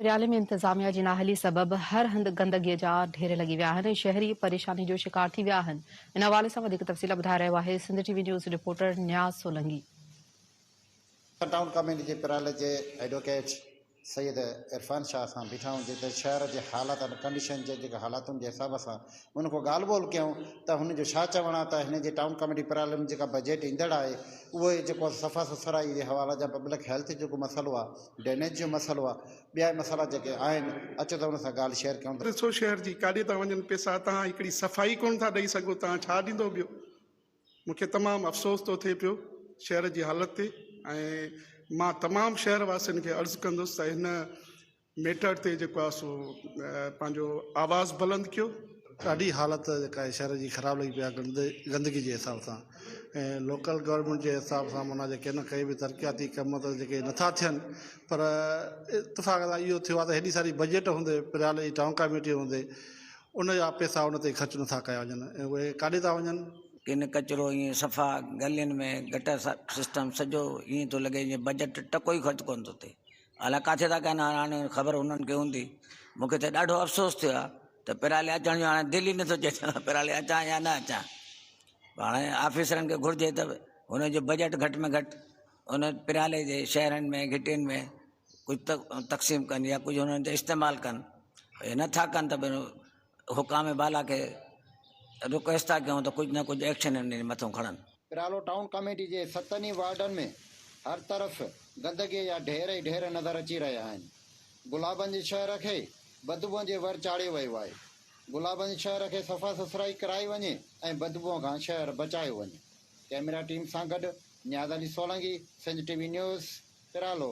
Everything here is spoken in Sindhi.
ريالي ۾ انتظاميا جي نااهلي سبب هر هنڌ گندگي جا ڍير لڳي ويا آهن ۽ شهري پريشاني جو شڪار ٿي ويا آهن ان حوالي سان وڌيڪ تفصيل ٻڌائي رهيو آهي Sindh T V news reporter Niaz Solangi. Sindh town committee جي پرالس جي ايڊووڪيٽ سيد عرفان شاهه سان بيٺا هئون جتي شهر جي حالاتن ڪنڊيشن جي جيڪا حالاتن جي حساب سان ان کان ڳالهه ٻولهه ڪيائون ته هن جو ڇا چوڻ آهي ته هن جي ٽائون ڪاميٽي پرالم ۾ جيڪا بجيٽ ايندڙ آهي اهو جيڪو صفا سٿرائي جي حواله جا پبلڪ هيلٿ جيڪو مسئلو آهي ڊرينيج جو مسئلو آهي ٻيا مسئلا جيڪي آهن اچو ته ان سان ڳالهه شيئر ڪيون ته ڏسو شهر جي ڪاڏي ٿا وڃن پيسا توهان هڪڙي صفائي ڪونه ٿا ڏئي سگهو توهان ڇا ڏيندو ٻيو مون کي تمام افسوس ٿو ٿئي پيو شهر جي حالت تي ۽ مان تمام شهر واسين کي عرض ڪندس ته هن ميٽر تي جيڪو آهي سو پنهنجو آواز بلند ڪيو. ڏاڍي حالت جيڪا آهي شهر جي خراب لڳي پئي آهي گندي گندگي جي حساب سان ۽ لوڪل گورنمينٽ جي حساب سان معنيٰ جيڪي نه ڪئي به ترقياتي ڪم ته جيڪي نٿا ٿين پر اتفاق سان اهو ٿيو آهي ته هيڏي ساري بجيٽ هوندي پريالي جي ٽائون ڪاميٽي هوندي ان جا پئسا ان تي خرچ نٿا ڪيا وڃن ۽ اهي ڪاڏي ٿا وڃن. ڪن ڪچرو ائين صفا گلين ۾ گٽر سسٽم سڄو ائين ٿو لڳي جيئن بجيٽ ٽڪو ئي خرچ ڪونه ٿو ٿئي الاء ڪاٿي ٿا ڪن هاڻي خبر انهن کي هوندي مون کي ته ڏاڍو افسوس ٿيو آ ته پرالي اچڻ جو هاڻي دل ئي نٿو چئي ته پرالي اچان يا نه اچان هاڻي آفيسرن کي گهرجي ته هن جو بجيٽ گهٽ ۾ گهٽ ان پرالي جي شهرن ۾ گهٽين ۾ ڪجهه تقسيم ڪن يا ڪجهه هنن جو استعمال ڪن نٿا ڪن ته حڪام بالا کي رڪويسٽ ٿا ڪيون ته ڪجهه نه ڪجهه ايڪشن انهن جي مٿو کڻن. پرالو ٽائون ڪاميٽي جي ستن ئي وارڊن ۾ هر طرف گندگيء جا ڍير ئي ڍير نظر اچي رهيا آهن. گلابن جي شهر کي بدبوء جي ور چاڙهيو ويو آهي. گلابن جي شهر کي صفا سٿرائي ڪرائي وڃي ۽ بدبوء کان شهر بچايو وڃي. ڪئميرا ٽيم سان گڏ Niaz Ali Solangi, Sindh T V news, پرالو.